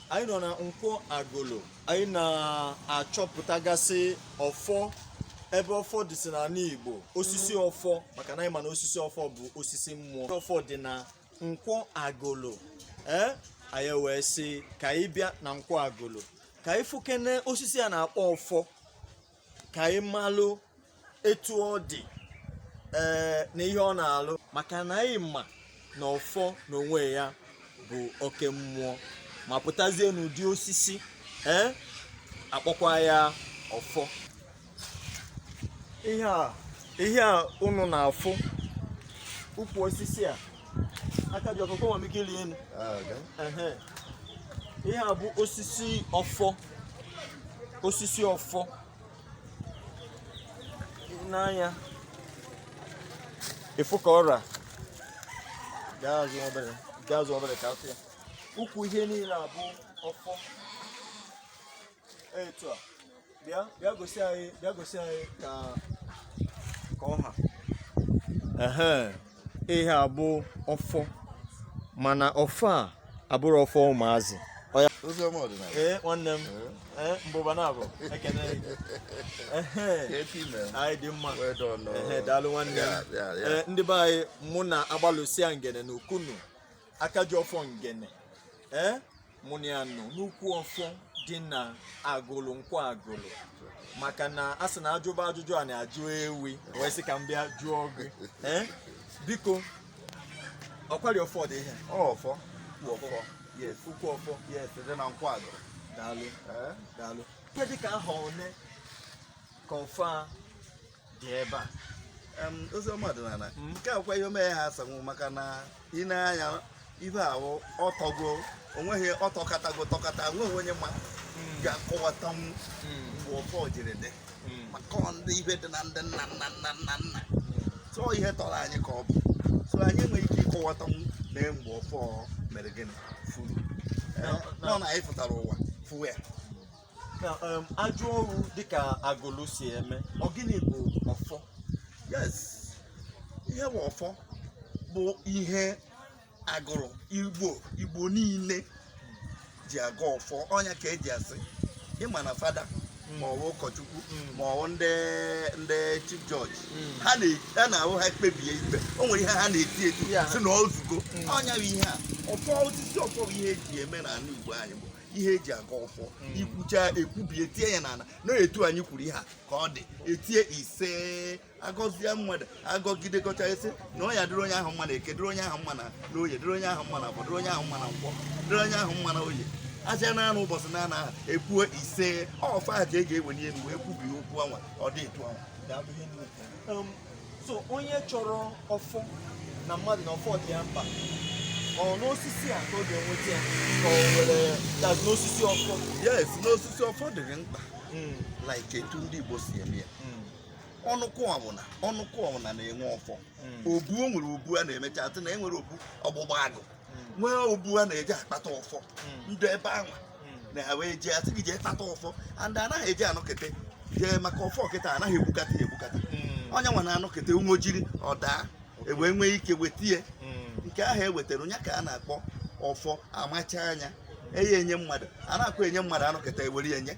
anyị nọ na nkwọ agụlụ anyị na-achọpụtagasị ọfọ ebe ọfọ dịsị n'anị Igbo osisi ọfọ maka na anyị ma na osisi ọfọ bụ osisi mmụọ ọfọ dị na nkwọ agụlụ ee anyị wee sị ka anyị bịa na nkwọ agụlụ ka anyị fụkene osisi a na-akpọ ọfọ ka anyị malụ etu ọ dị ee na ihe ọ na-alụ maka na anyị ma na ọfọ n'onwe ya bụ oke mmụọ ma pụtazie n'ụdị osisi ee a kpọkwa ya ọfọ ihe a ihe a unu na-afụ ukwu osisi a aka ji ọfọ nwere ike iri enu ihe a bụ osisi ọfọ osisi ọfọ nee anya fụ ka ọ ra gaa azụ obere ka a fụ ya ukwu ihe niile a bụ ọfọ etu a bịa bịa gosi anyị bịa gosi anyị ka ka ọ ha ehe ihe a bụ ọfọ mana ọfọ a abụrọ ọfọ ụmụazị ee nwanne m ee mbụba na-abụ ekene anyị dị mma ehe daalụ nwanne m ee ndị be anyị mụ na agbalụsia ngene na ukunu aka ji ọfọ ngene ee mụ na ya nọ n'ukwu ọfọ dị na agụlụ nkwọ agụlụ maka na a sị na a jụba ajụjụ a na-ajụ ewi wee sị ka m bịa jụọ gị Eh, biko ọkwari ọfọ dị ihe ọfọ ukwu ọfọ yes ukwu ọfọ yes dị na nkwọ agụlụ daalụ Eh? daalụ ihe dị ka ahọ one ka ọfọ a dị ebe a Em, ozi ọma ọdịnala Mm. nke a kwa ihe omeghe ha asanwụ maka na ị nee anya ibe ahụ ọ tọgo onweghị ọ tọkatago tọkata nweghị onye ma ga-akọwatanwu mgbe ọfọ jiri dị maka ọ ndị ibe dị na ndị nna nna nna nna nna tụọ ihe tọrọ anyị ka ọ bụ so anyị enweghị ike ịkọwatanwu na mgbe ọfọ mere gịnị furu Eh, nọ na anyị fụtara ụwa fụ ya na um, ajọ ọrụ dịka agụlụ si eme ọ gịnị bụ ọfọ yes ihe bụ ọfọ bụ ihe agụlụ igbo igbo niile ji agọ ọfọ ọ nya ka e ji asị ị ma na fada ma ọ bụ ụkọchukwu ma ọ bụ ndị ndị chief judge ha na- ha na-abụ ha kpebie ikpe o nwere ihe ha na-eti eti Ya. si na ọ zugo ọ nya bụ ihe a ọfọ osisi ọfọ bụ ihe e ji eme n'ana igbo anyị bụ ihe eji aga ọfọ hmm. ikwucha ekwubie tie ya n'ala na etu anyị kwuru ihe a ka ọ dị etie ise agọzie mmadụ agọgide gọcha ị sị na ọ ya-adịrị onye ahụ mma na eke dịrị onye ahụ mma na oye dịrị onye ahụ mma na afọ dịrị onye ahụ mma na nkwọ dịrị onye ahụ mma na oye aja na anụ ụbọchị na ana ekwuo ise ọfọ a ka e ga-eweni elu wee kwubie okwu anwa ọ dị etu anwa so onye chọrọ ọfọ na mmadụ na ọfọ dị ya mkpa ọ n'osisi a ka ọ ga-enweta ya ka ọ were dazi n'osisi ọfọ yes n'osisi ọfọ dịrị mkpa hmm. like etu ndị Igbo si eme ya hmm. ọnụkụ ọbụla ọnụkụ ọbụla na-enwe ọfọ hmm. obu o nwere obu a na-emecha atụ na enwere obu ọgbụgba agụ nwee obu a na-eji akpata ọfọ ndị ebe anwa na ha wee jee asị gị jee kpata ọfọ and anaghị eji anọkete jee maka ọfọ kịta anaghị egbukata ya egbukata ọ ya nwa na-anọkete onwe jiri ọ daa e wee nwee ike weta ya nke ahụ e wetara ọ ya ka a na-akpọ ọfọ amacha anya enye enye mmadụ a na-akwa enye mmadụ anọketa ewere ya nye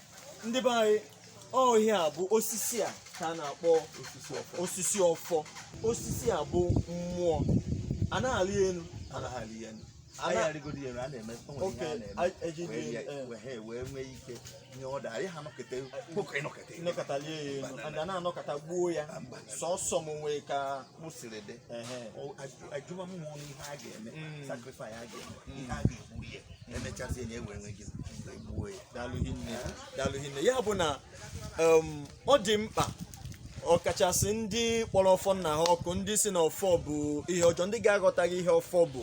ndị be anyị ihe a bụ osisi a ka a na-akpọ osisi ọfọ osisi a bụ mmụọ a na-alị elu anaghị ya elu anyị arịgoro ya elu a na-eme o nwere ihe a Okay, na-eme a- eji dị wee elu, ya- eh. wee ha wee nwee ike nye ọda anyị ha nọkete nwoke ịnọkete ịnọkọtalie ya elu and a na-anọkata gbuo ya sọsọ m nwee ka mụ siri dị ajụwa mmụọ ihe a ga-eme mm. sacrifice a ga-eme mm. ihe a ga-egbu ya mm. emechazie ya ewere nwee ike gbuo ya daalụ hinne ya bụ na um, ọ dị mkpa ọkachasị ndị kpọrọ ọfọ nna ha ọkụ ndị sị na ọfọ bụ ihe ọjọọ ndị ga-aghọtaghị ihe ọfọ bụ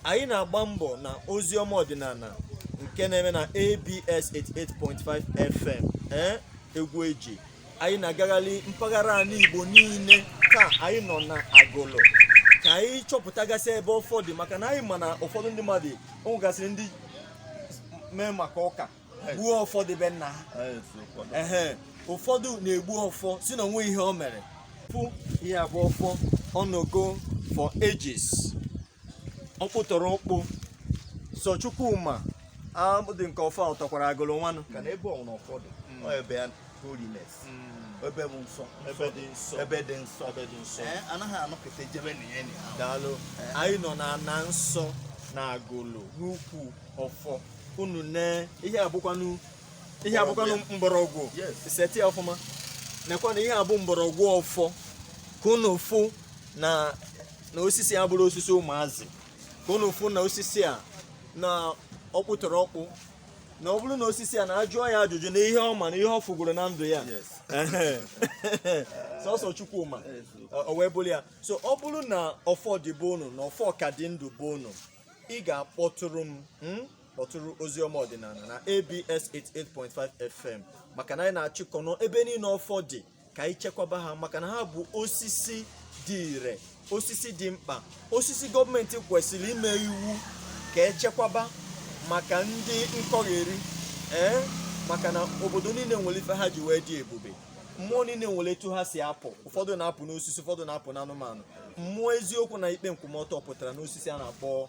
anyị na-agba mbọ na ozi ọma ọdịnala nke na-eme na ABS 88.5 FM eh, egwu eji anyị na-agagharị mpaghara ani Igbo niile taa anyị nọ na Agulu ka anyị chọpụtagasị ebe ọfọ dị maka na anyị ma na ụfọdụ ndị mmadụ o nwegasịrị ndị mee maka ụka gbuo ọfọ dị be nna ha ụfọdụ na-egbu ọfọ sị na o nwe ihe o mere fụ ihe a bụ ọfọ ọ nọgo for ages ọkpụtọrọ ọkpụ sọ Chukwu ma ụdị nke ọfọ a ọ tọkwara Agulu nwanụ ka na ebe ọbụna ọfọ dị ọ ebe ya holiness ebe bụ nsọ ebe dị nsọ ebe dị nsọ ebe dị nsọ Ee, anaghị anọkata ejebe na ya na ya daalụ anyị nọ na ana nsọ na Agulu n'ukwu ọfọ unu ne ihe a bụkwanụ ihe a bụkwanụ mgbọrọgwụ Yes. seti ya ọfụma nekwa na ihe a bụ mgbọrọgwụ ọfọ ka unu fụ na na osisi a abụrọ osisi ụmụazị ka unu fụ na osisi a na ọkpụ tọrọ ọkpụ na ọ bụrụ na osisi a na a jụọ ya ajụjụ na ihe ọ ma na ihe ọ fụgoro na ndụ ya sọsọ Chukwu ma o wee bụrụ ya so ọ bụrụ na ọfọ dị be unu na ọfọ ka dị ndụ be unu ị ga-akpọtụrụ m hmm? kpọtụrụ oziọma ọdịnala na ABS 88.5 FM maka na anyị na-achịkọ ọnụ ebe niile ọfọ dị ka anyị chekwaba ha maka na ha bụ osisi dị ire osisi dị mkpa osisi gọọmenti kwesịrị ime iwu ka e chekwaba maka ndị nkọgheri ee maka na obodo niile nwere ife ha ji wee dị ebube mmụọ niile nwere etu ha si apụ ụfọdụ na-apụ n'osisi ụfọdụ na-apụ n'anụmanụ mmụọ eziokwu na ikpe nkwụmọtọ pụtara n'osisi a na-akpọ